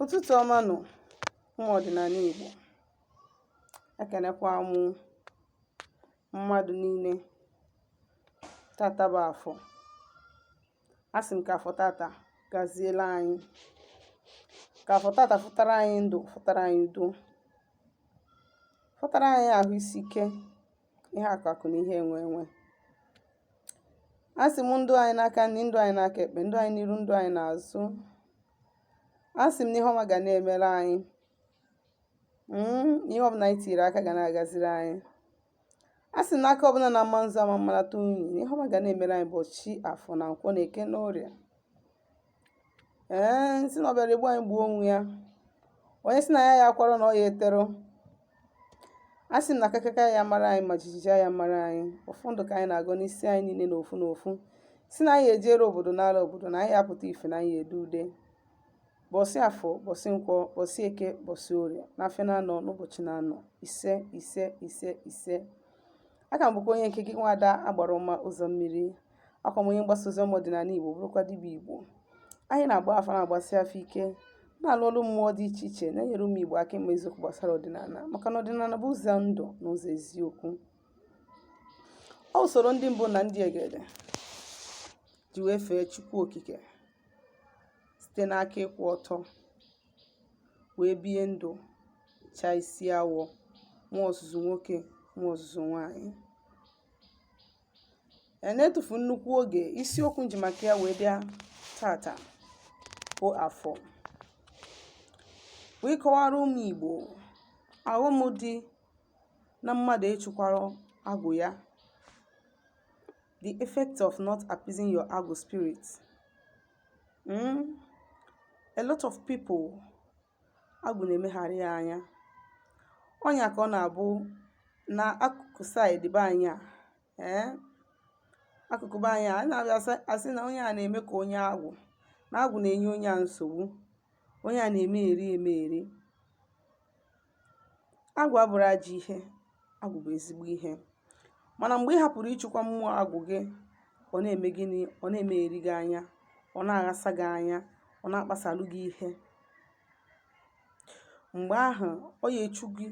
Ụtụtụ ọma nụ ụmụ ọdịnala Igbo. Ekenekwa m mmadụ niile. Tata bụ afọ. Asị m ka afọ tata gaziele anyị. Ka afọ tata fụtara anyị ndụ, fụtara anyị udo, fụtara anyị ahụ isi ike, ihe akụakụ na ihe enwe enwe asị m ndụ anyị n'aka nri ndụ anyị n'aka ekpe ndụ anyị n'iru ndụ anyị n'azụ asị m na ihe ọma ga na-emere anyị hmm, ihe ọbụla anyị tiri aka ga na-agaziri anyị asị m na aka ọbụla na-ama nzu ama mmalata unyi ihe ọma ga na-emere anyị ụbọchị afọ na nkwọ na eke na orie ee nsị na ọbịara egbu anyị gbuo onwe ya onye sị na ya ya akwara na ọ ya eterụ a sị m na akakaka ya mara anyị ma jijiji ya mara anyị ọfọ ndụ ka anyị na-agọ n'isi anyị niile na ofu na ofu sị na anyị ya ejere obodo nala obodo na anyị ya apụta ife na anyị ya ede ude bọsị afọ bọsị nkwọ bọsị eke bọsị orie na afịa na anọ n'ụbọchị na anọ ise ise ise ise aka m bụkwa onye nke gị nwada agbara ọma ụzọ mmiri akwa m onye mgbasa ozi ọma ọdịnala igbo bụrụkwa dibịa igbo anyị na-agba afa na-agbasi afa ike na-alụ ọrụ mmụọ dị iche iche na-enyere ụmụ igbo aka ịma eziokwu gbasara ọdịnala maka na ọdịnala bụ ụzọ ndụ na ụzọ eziokwu ọ usoro ndị mbụ na ndị egede ji wee fee chukwu okike site n'aka ịkwụ ọtọ wee bie ndụ chaa isi awọ nwa ọzụzụ nwoke nwa ọzụzụ nwaanyị a na-etufu nnukwu oge isiokwu nji maka ya wee bịa tata bụ afọ wee kọwara ụmụ igbo aghọm dị na mmadụ achịkwarọ agwụ ya the effect of not appeasing your agwụ spirit. Mm? A lot of people agwụ na-emegharị ya anya ọ nya ka ọ na-abụ na akụkụ side be anyị a ee akụkụ be anyị a na-abịa asa- asị na onye a na-eme ka onye agwụ na agwụ na-enye onye a nsogbu onye a na-emegheri emegheri Agwụ abụrọ ajọ ihe, agwụ bụ ezigbo ihe. Mana mgbe ị hapụrụ ịchịkwa mmụọ agwụ gị, ọ na-eme gịnị? Ọ na-emegheri gị anya, ọ na-aghasa gị anya, ọ na-akpasalụ gị ihe. Mgbe ahụ, ọ ya echu gị,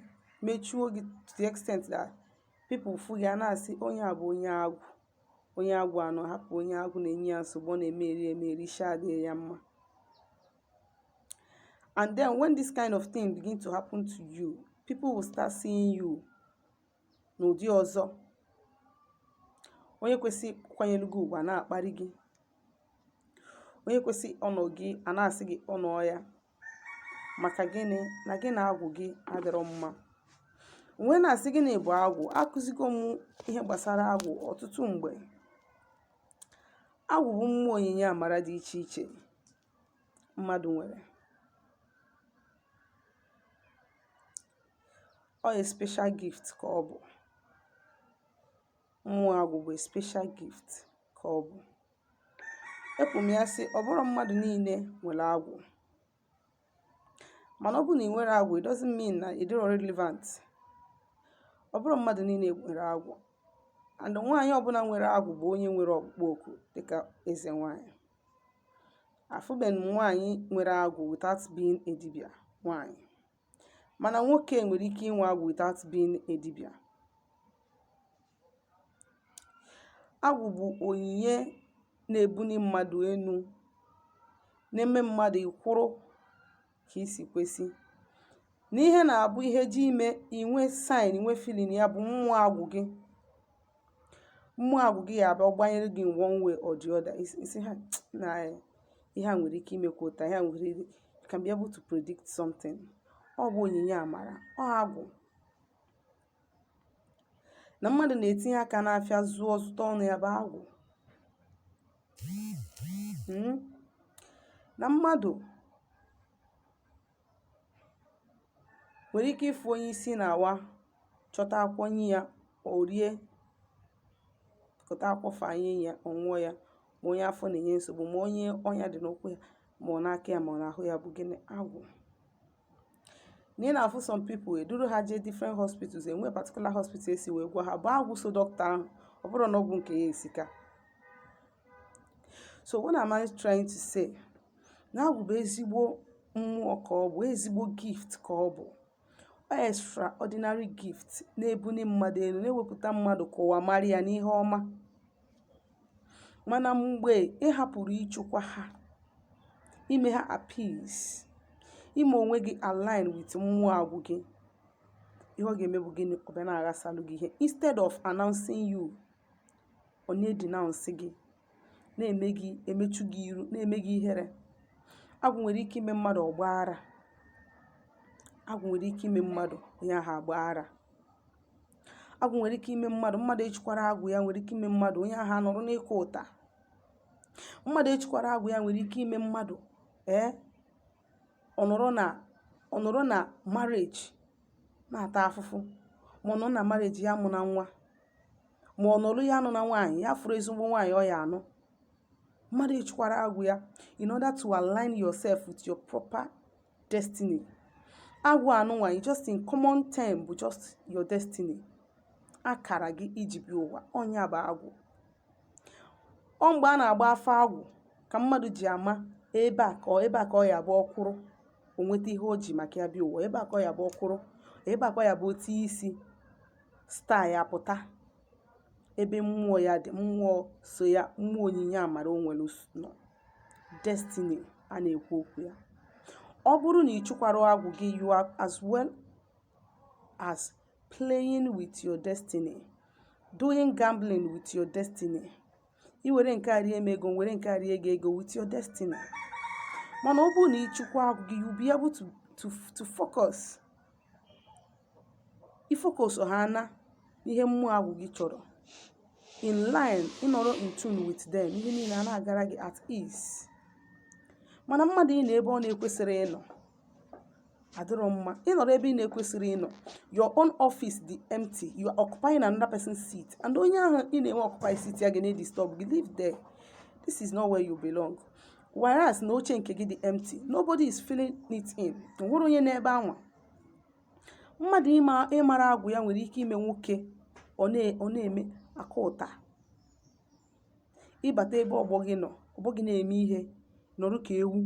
mechuo gị to the extent that people fụ gị a na-asị onye a bụ onye agwụ. Onye agwụ anọ hapụ onye agwụ na-enye ya nsogbu, ọ na-emegheri emegheri, isi adịghị ya mma. And then when this kind of thing begin to happen to you, people will start seeing you n'ụdị ọzọ. Onye kwesị kwanyelu gị ugwu a na-akparị gị. Onye kwesị honour gị a na-asị gị honour ya. Maka gịnị na gị na agwụ gị adịrọ mma. Wee na-asị gịnị bụ agwụ, akụzigo m ihe gbasara agwụ ọtụtụ mgbe. Agwụ bụ mmụọ onyinye amara dị iche iche. mmadụ nwere ọ a special gift ka ọ bụ mmụọ agwụ bụ special gift ka ọ bụ ekwuru m ya sị ọ bụrọ mmadụ niile nwere agwụ mana ọ bụrụ na ị nwerọ agwụ it doesn't mean na ị dịrọ relevant ọ bụrọ mmadụ niile nwere agwụ and nwaanyị ọbụla nwere agwụ bụ onye nwere ọkpụkpọ oku dịka eze nwaanyị afụbe m nwaanyị nwere agwụ without being a dibia nwaanyị mana nwoke nwere ike inwe agwụ without being a dibia agwụ bụ onyinye na-ebuni mmadụ enu na-eme mmadụ ịkwụrụ ka i si kwesị na ihe na-abụ ihe ji ime i nwee sign i nwee feeling ya bụ mmụọ agwụ gị mmụọ agwụ gị ya abịa gbanyere gị one way or the other ị sị ha na ihe a nwere ike imekwa taa ihe a nwere ike can be able to predict something ọ bụ onyinye amara ọ agwụ na mmadụ na-etinye aka n'afịa zụọ zụta ọnụ ya bụ agwụ Mm. na mmadụ nwere ike ịfụ onye isi na-awa chọta akwụkwọ nye ya o rie kụta akwụkwọ fanye ya ọ ṅụọ ya ma onye afọ na-enye nsogbu ma onye ọnya dị n'ụkwụ ya ma ọ n'aka ya ma ọ n'ahụ ya bụ gịnị agwụ na ị na-afụ some people eduru ha jee different hospitals e nwee particular hospital e si wee gwọọ ha bụ agwụ so dọkịta ahụ ọ bụrọ na ọgwụ nke ya esika so what am I trying to say na agwụ bụ ezigbo mmụọ ka ọ bụ ezigbo gift ka ọ bụ extraordinary gift na-ebuni mmadụ enu na-ewepụta mmadụ ka ụwa mara ya n'ihe ọma mana mgbe ị hapụrụ ịchụkwa ha ime ha appease ime onwe gị align with mmụọ agwụ gị ihe ọ ga-eme bụ gịnị ọ bịa na-aghasalụ gị ihe instead of announcing you ọ na-edenounce gị na-eme gị emechu gị iru na-eme gị ihere agwụ nwere ike ime mmadụ ọ gbaa ara agwụ nwere ike ime mmadụ onye ahụ agbaa ara agwụ nwere ike ime mmadụ mmadụ echikwara agwụ ya nwere ike ime mmadụ onye ahụ anọrọ n'ịkụ ụta mmadụ echikwara agwụ ya nwere ike ime mmadụ ee ọ nọrọ na ọ nọrọ na marriage na-ata afụfụ ma ọ nọ na marriage ya amụna nwa ma ọ nọrụ ya anụna nwaanyị ya afụrụ ezigbo nwaanyị ọ ya-anụ mmadụ echikwara agwụ ya in order to align yourself with your proper destiny agwụ anụnwa you just in common term bụ just your destiny akara gị i ji bịa ụwa ọ nya bụ agwụ ọ mgbe a na-agba afa agwụ ka mmadụ ji ama ebe a ka ọ- ebe a ka ọ ya-abụ ọ kwụrụ o nweta ihe o ji maka ya bịa ụwa ebe a ka ọ ya-abụ ọ kwụrụ ebe a ka ọ ya-abụ o tii isi star ya apụta ebe mmụọ ya dị mmụọ so ya mmụọ onyinye amara o nwere s- nọ destiny a na-ekwu okwu ya ọ bụrụ na ị chụkwara agwụ gị you are as well as playing with your destiny doing gambling with your destiny i were nke a rie m ego were nke a rie gị ego with your destiny mana ọ bụrụ na ị chụkwa agwụ gị you be able to to to focus ị focus ha n'ihe mmụọ agwụ gị chọrọ in line ị nọrọ in tune with them ihe niile ana-agara gị at ease mana mmadụ ịnọ ebe ọ na-ekwesịrị ịnọ adịrọ mma ị nọrọ ebe ị na-ekwesịrị ịnọ your own office dị empty you are occupying another person's seat and onye ahụ ị na-eoccupy seat ya ga na-edisturb gị leave there this is not where you belong whereas na oche nke gị dị empty nobody is filling it in nwere onye nọ ebe anwa mmadụ ịmara agwụ ya nwere ike ime nwoke ọ na-eme aka ụta ị bata ebe ọgbọ gị nọ ọgbọ gị na-eme ihe nọrọ ka ewu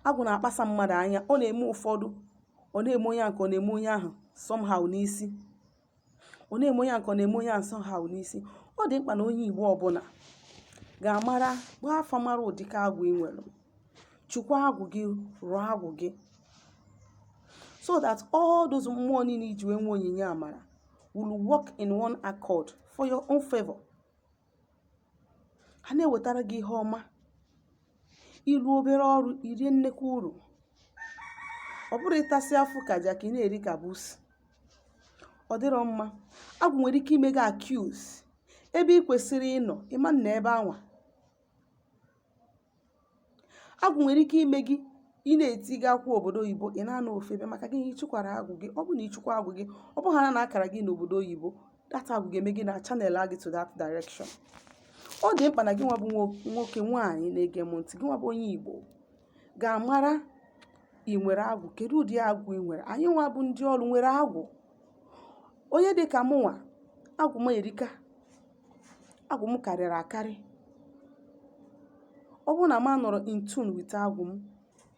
agwụ na-akpasa mmadụ anya ọ na-eme ụfọdụ ọ na-eme onye nke ọ na-eme onye ahụ somehow n'isi ọ na-eme onye nke ọ na-eme onye ahụ somehow n'isi ọ dị mkpa na onye igbo ọbụla ga-amara gbaa afa mara ụdịka agwụ ị nwere chukwa agwụ gị rụọ agwụ gị so that all those mmụọ niile i ji wee nwee onyinye amara will work in one accord for your own favor ha na-ewetara gị ihe ọma ị rụọ obere ọrụ i rie nnekwu uru ọ bụrọ ịtasị afụfụ ka jakị ị na-eri ka busi ọ dịrọ mma agwụ nwere ike ime gị accuse ebe ị kwesịrị ịnọ ị ma nọ ebe anwa agwụ nwere ike ime gị ị na-eti gị akwụ obodo oyibo ị na-anọ ofu ebe maka gị ịchụkwara agwụ gị ọ bụ na ịchụkwa agwụ gị ọ bụrụ na akara gị n'obodo oyibo that agwụ ga-eme gịnị channel a gị to that direction ọ dị mkpa na gị nwa bụ nwo- nwoke nwaanyị na-ege m ntị gị nwa bụ onye igbo ga-amara ị nwere agwụ kedu ụdị agwụ ị nwere anyị nwa bụ ndị ọrụ nwere agwụ onye dị ka mụnwa agwụ m erika agwụ m karịrị akarị ọ bụrụ na m anọrọ in tune with agwụ m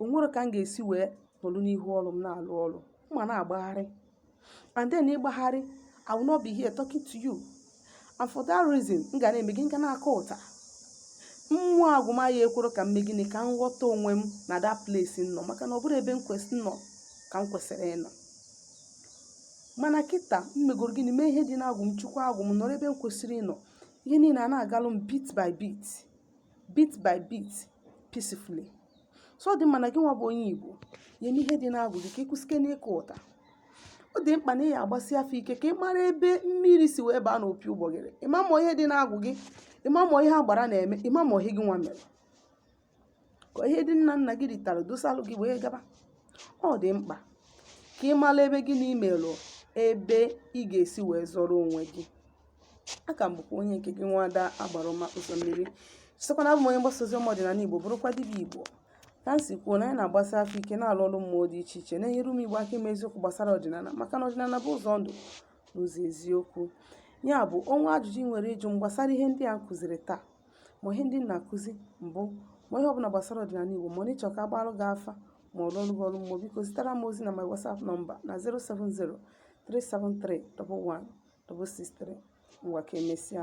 o nwerọ ka m ga-esi wee nọrọ n'ihu ọrụ m na-alụ ọrụ m ma na-agbagharị and then ịgbagharị I will not be here talking to you and for that reason m ga na-eme gịnị m ga na-aka ụta mmụọ agwụ m a ya ekwero ka m mee gịnị ka m ghọta onwe m na that place m nọ maka na ọ bụrọ ebe m kwesị nọ ka m kwesịrị ịnọ mana kịta m megoro gịnị mee ihe dị n'agwụ m chụkwa agwụ m nọrọ ebe m kwesịrị ịnọ ihe niile a na-agalụ m bit by bit bit by bit peacefully so ọ dị mma na gị nwa bụ onye igbo ya eme ihe dị n'agwụ gị ka ị kwụsịke n'ịka ụta ọ dị mkpa na ị ya agbasi afa ike ka ị mara ebe mmiri si wee baa n'opi ụgbọgịrị ịma ma ihe dị n'agwụ gị ịma ma ihe agbara na-eme ịma ma ihe gị nwa mere ka ihe ndị nna nna gị ritara dosalụ gị wee gaba ọ dị mkpa ka ị mara ebe gị na imelụ ebe ị ga-esi wee zọrọ onwe gị aha m bụkwa onye nke gị nwada agbara ọma ụzọ mmiri chetakwa na abụ m onye mgbasa ozi ọma ọdịnala igbo bụrụkwa dibịa igbo ka m si kwuo na anyị na-agbasi afa ike na-alụ ọrụ mmụọ dị iche iche na-enyere ụmụ igbo aka ime eziokwu gbasara ọdịnala maka na ọdịnala bụ ụzọ ndụ n'ụzọ eziokwu ya bụ o nwee ajụjụ ị nwere ịjụ m gbasara ihe ndị a m kụziri taa ma ihe ndị m na-akụzi mbụ ma ihe ọbụla gbasara ọdịnala Igbo ma ọ na ị chọ ka agbalụ gị afa ma ọ rụọrọ gị ọrụ mmụọ biko zitere m ozi na my WhatsApp nọmba na 070 373 11163 ngwa ka emesịa